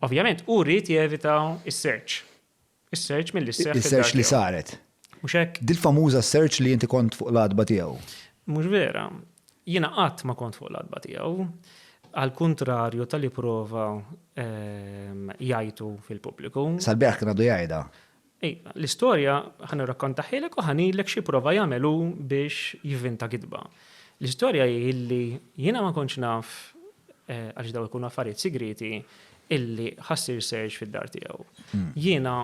Ovvjament, hu ried jevita s-search. Is-search milli sseħħ fid-dar. Is-search li saret. Mhux hekk? Dil-famuża search li inti kont fuq l-għatba tiegħu. Mhux vera. Jiena qatt ma kont fuq l-għatba tiegħu. Għal kuntrarju tal-li prova ehm, jgħidu fil-pubbliku. Sal-beraħ kien għadu jgħidha. Iva, l-istorja ħa nirrakkontahielek u ħa ngħidlek xi prova jagħmel hu biex jivvinta gidba. L-istorja hi illi jiena ma kontx naf, għaliex dawn ikunu affarijiet sigrieti, illi ħa ssir serg fid-dar tiegħu. Jiena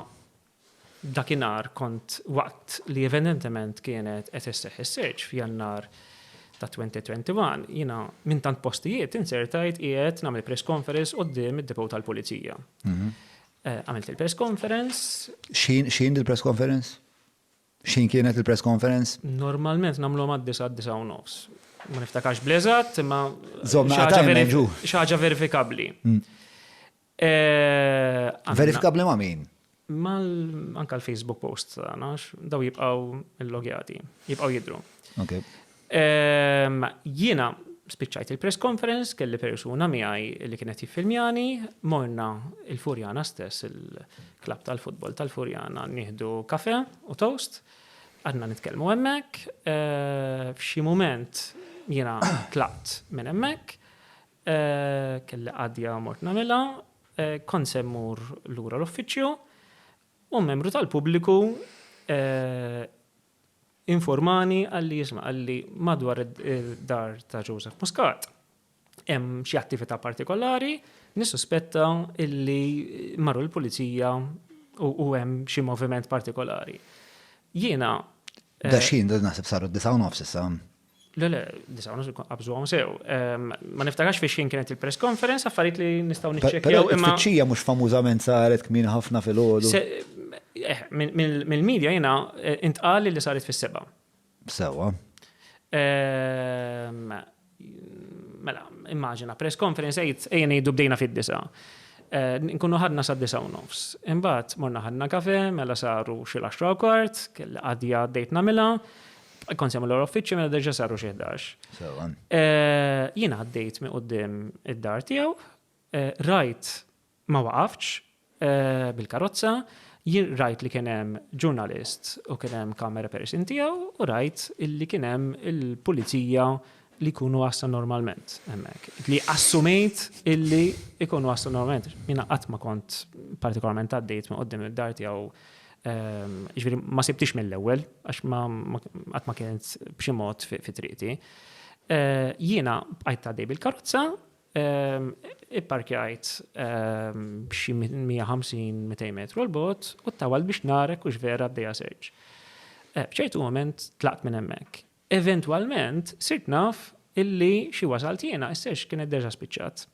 dakinhar kont waqt li evidentement kienet qed isseħħ is-serg f'Jannar ta' 2021, jiena minn tant postijiet inzertajt qiegħed nagħmel press conference quddiem id-depot tal-pulizija. Għamilt il-press conference. Xin, xin il-press conference? Xin kienet il-press conference? Normalment namlu għad disa għad disa u nofs. Ma niftakax blezat, ma xaġa verifikabli. Mm. Eh, verifikabli ma min? Mal anka l-Facebook post għanax, daw jibqaw il-logjati, jibqaw jidru. Okay. Ehm, jiena spiċċajt il-press conference, kelli persuna miegħi li kienet jiffilmjani, morna il-Furjana stess, il-klab tal-futbol tal-Furjana, nieħdu kafe u toast, għadna nitkellmu hemmhekk, eh, f'xi mument jiena tlaqt minn hemmhekk, eh, kelli għadja mort nagħmilha, eh, kont semmur lura l-uffiċċju, u membru tal-pubbliku Informani qalli isma' qalli madwar id-dar ta' Joseph Muscat hemm xi attività partikolari, nissuspetta illi marru l-pulizija u hemm xi moviment partikolari. Jiena. Daxxin, naħseb saru d-disa' u nofs issa. Le, le, disa' u nofs qabżu għom sew. Ehm, ma niftakax fiex kien kienet il-press conference, affarijiet li nistaw nitċekjaw. Imma tfittxija mux famużament saret kmin ħafna fil-ħodu. Eh, mill-medja jena eh, intqal li saret fis-seba. Sewa. Ehm, mela, immaġina, press conference għajt, ejjen jiddu bdejna fid-disa. Eh, nkunu ħadna sa' disa' u nofs. Imbat, morna ħadna kafe, mela saru xil-10 kwart, kelli għadja għaddejt namila. Kont semmel l uffiċċju mela deġa saru xi ħdax. Eh, jien għaddejt minn qudiem id-dar tiegħu, eh, rajt ma waqafx eh, bil-karozza, jien rajt li kien hemm ġurnalist u kien hemm kamera person tiegħu u rajt li kien hemm il-pulizija li jkunu waslu normalment hemmhekk, li assumejt illi jkunu waslu normalment. Jiena qatt ma kont partikolarment għaddejt minn quddiem id-dar tiegħu, jiġifieri ma sibtix mill-ewwel għax ma qatt ma kienet b'xi mod fi triqti. Jiena bqajt għaddej bil-karozza, ipparkjajt b'xi 150, 200 metru 'l bogħod u ttawalt biex nagħrek hux vera għaddejja search. F'ċertu mument tlaqt minn hemmhekk. Eventwalment sirt naf illi xi wasalt jiena, is-search kienet deġa spiċċat.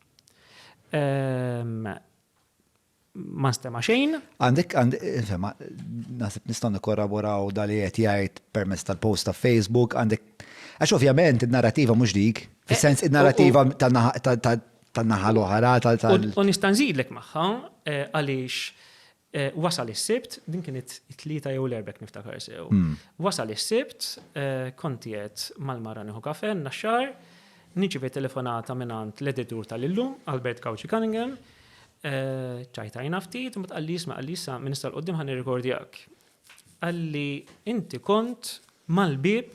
Ma nstema' xejn. Għandek insema, naħseb nistgħu nikkorraboraw dali qed jgħid permezz tal-post ta' Facebook, għandek għax ovvjament id-narrativa mhux dik, fis-sens id-narrativa tan-naħa l-oħra tal. U nista' nżidlek magħha għaliex Wasal is-Sibt, din kienet it-Tlieta jew l-Erbgħa jekk niftakar sew. Wasal is-Sibt, kont qiegħed mal-mara nieħu kafè n-Naxxar, nirċivi telefonata mingħand l-editur tal-illum, Albert Gauci Cunningham, ċajtajna ftit, imbagħad qalli jisma' qalli issa minn issa 'l quddiem ħa nirrikordjak. Qalli inti kont mal-bieb,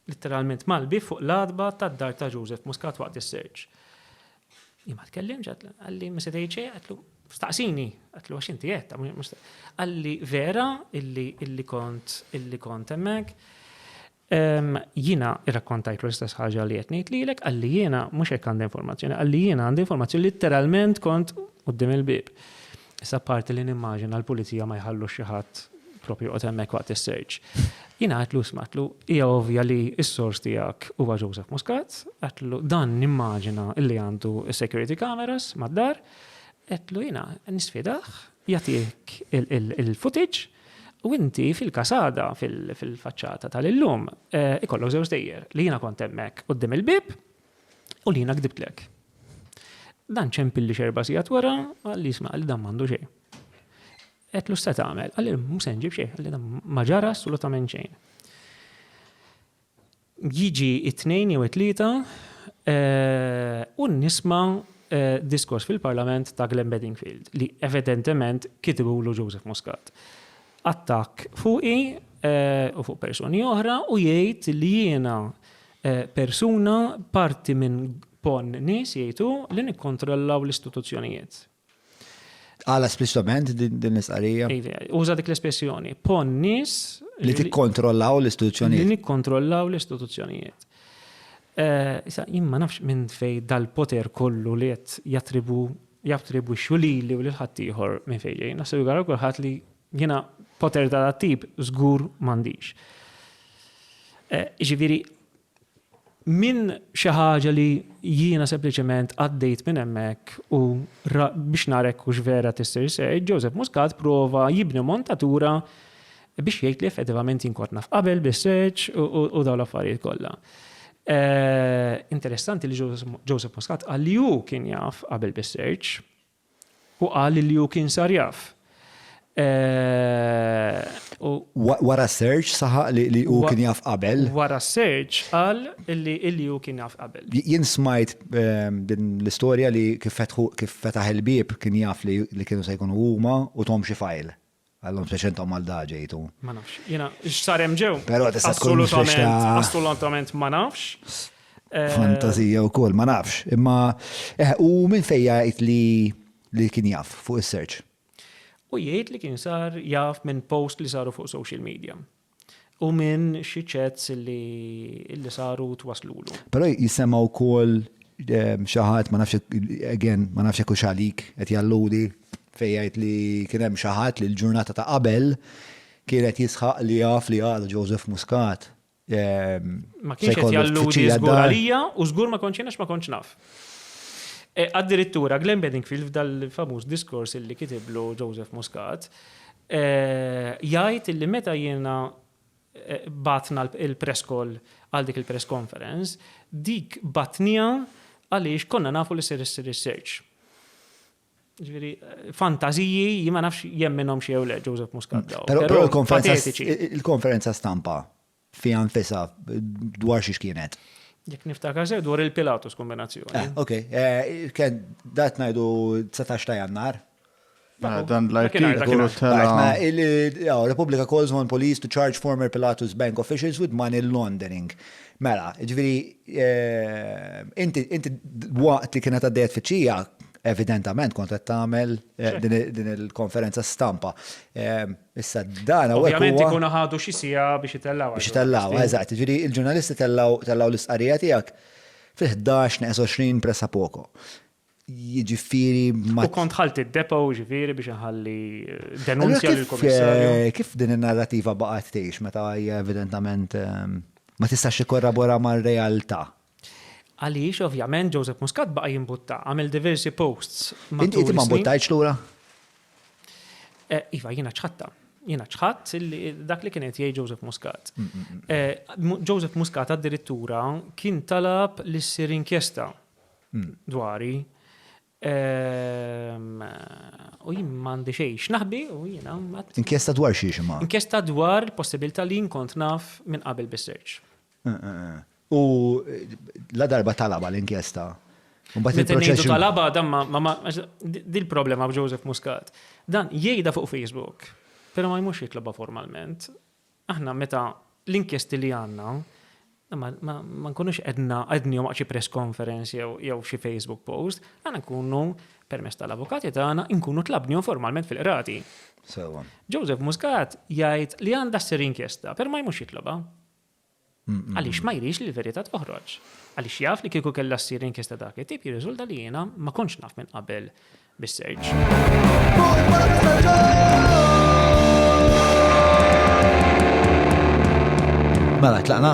litteralment mal-bieb fuq l-għatba tad-dar ta' Joseph Muscat waqt is-search. Imma tkellimx, għalli ma se tgħid xejn, għatlu staqsini, għatlu għax inti qed, għalli vera illi kont illi kont hemmhekk. Ehm, jina irrakkontajt l-istess ħaġa li qed ngħid lilek, għalli jiena mhux hekk għandi informazzjoni, għalli jiena għandi informazzjoni literalment kont qudiem il-bib. Issa parti li nimmaġina l-pulizija ma jħallux xi ħadd propju joqgħod hemmhekk waqt is-search. Jien għatlu smatlu, hija ovvja li s-sors tiegħek huwa Joseph Muscat, għatlu dan nimmaġina li għandu security cameras mad-dar, għatlu jiena nisfidah jagħtik il-footage u inti fil-kasada fil-faċċata tal-illum eh, ikollok żewġ dejjer li jiena kont hemmhekk qudiem il-bib U li jiena kdibtlek. Dan ċempilli xerba sigħat wara, għal jisma' għal dan m'għandu xejn. Qed l-usta tagħmel, għal mhux se nġib xejn, għal dan ma ġara assolutament xejn. Jiġi it-tnejn jew it-tlieta eh, u nisma' eh, diskors fil-Parlament ta' Glenn Bedingfield li evidentement kitibulu Joseph Muscat. Attak fuqi eh, u fuq persuni oħra u jgħid li jiena persuna parti minn pon nies, jgħid hu, li nikkontrollaw l-istituzzjonijiet. Għala spliċtament din l-istqarrija? Uża dik l-espressjoni, pon nies li tikkontrollaw l-istituzzjonijiet. Li nikkontrollaw l-istituzzjonijiet. Eh, issa, jien ma nafx minn fej dal-poter kollu li qed jattribu jattribu xulili u l-ħattijħor minn fejġej. Naħseb jgħara kulħadd li Jiena poter ta' dat-tip żgur m'għandix. Jiġifieri minn xi ħaġa li jiena sempliċement għaddejt minn hemmhekk u biex nara jekk hux vera tissir seħħ, Joseph Muscat prova jibni montatura biex jgħid li effettivament jien kont naf qabel bis-seħħ u dawn l-affarijiet kollha. Interessanti li Joseph Muscat qal li hu kien jaf qabel bis-seħħ, Hu qal li hu kien sar jaf. Wara s-search saħaq li hu kien jaf qabel. Wara s-search qal li hu kien jaf qabel. Jien smajt din l-istorja li kif fetaħ il-bieb kien jaf li kienu se jkunu huma u thom xi fajl. Għallum fiex intom għal da ġejtu. Ma nafx. Jena, x'sar hemm ġew? Però tista' tkun assolutament, assolutament ma nafx. Eh, Fantazija u kol, ma nafx. Imma, eh, u minn fejja jgħid li li kien jaf fuq is-search? U jgħid li kien sar jaf minn post li saru fuq social media. U minn xi chats li saru u twasslulu. Però jissemma wkoll xi ħadd ma nafx again ma nafx jekk hux għalik qed jalludi fejn jgħid li kien hemm xi ħadd li l-ġurnata ta' qabel kien qed jisħaq li jaf li għadu Joseph Muscat se jkollu tfittxija d-dar. Ma kienx qed jalludi żgur għalija u żgur ma kontx jien għax ma kontx naf. Addirittura Glenn Bedingfield f'dal-famuż diskors li kitiblu Joseph Muscat jgħid illi meta jiena bagħatna l-press call għal dik il-press conference, dik bagħtniha għaliex konna nafu li ser issir is-search. Ġifieri fantażiji jien ma nafx jemminhom xi jew le Joseph Muscat daw. Però l-konferenza stampa fiha nfisha dwar xiex kienet. Jekk niftakar sew dwar il-Pilatus kombinazzjoni. Eh, ok, eh, kien dat ngħidu 19 ta' Jannar. Mela, dan l-artikolu tela. Repubblika calls on police to charge former Pilatus bank officials with money laundering. Mela, ġviri, eh, inti waqt li kienet għaddejet fiċċija, evidentament kont qed tagħmel eh, din il-konferenza stampa. Eh, Issa dan hawnhekk. Ovvjament ikunu ħadu xi siegħa biex itellgħuha. Biex itellgħuha, eżatt. Jiġifieri l-ġurnalisti tellgħu tellgħu l-istqarrija tiegħek fil-ħdax neqes għoxrin pressa poco. Jiġifieri ma. U kont ħalti d-depo jiġifieri biex inħalli denunzja lill-Kummissarju. Kif din in-narrativa baqgħet tgħix meta hija evidentament ma tistax tikkorrabora mar-realtà? Għaliex, ovvjament, Joseph Muscat baqa' jimbutta. Għamel diversi posts matul is-snin. Inti ma mbuttajtx lura? Iva, jiena ċħatta. Jiena ċħatt dak li kien qed jgħid Joseph Muscat. Joseph Muscat addirittura kien talab li ssir inkjesta dwari. Ehm, u jien m'għandi xejn x'naħbi u jiena Inkjesta dwar xi xi Inkjesta dwar il-possibilità li nkont naf minn qabel bis-search. Eh, eh, eh. U la darba talaba l-inkjesta. Mbagħad il-proċess. Talaba dan ma dil-problema b'Joseph Muscat. Dan jgħidha fuq Facebook, però ma jmux jitlobha formalment. Aħna meta l-inkjesti li għandna ma nkunux qedna qednihom waqt xi press conference jew xi Facebook post, aħna nkunu permess tal-avukati tagħna nkunu tlabnihom formalment fil-qrati. Sewwa. Joseph Muscat jgħid li għandha ssir inkjesta, per ma jmux jitlobha. Għaliex ma jridx li l-verità toħroġ. Għaliex jaf li kieku kellha ssir inkjesta dak it-tip jirriżulta li jiena ma kontx naf minn qabel bis-search. Mela tlaqna?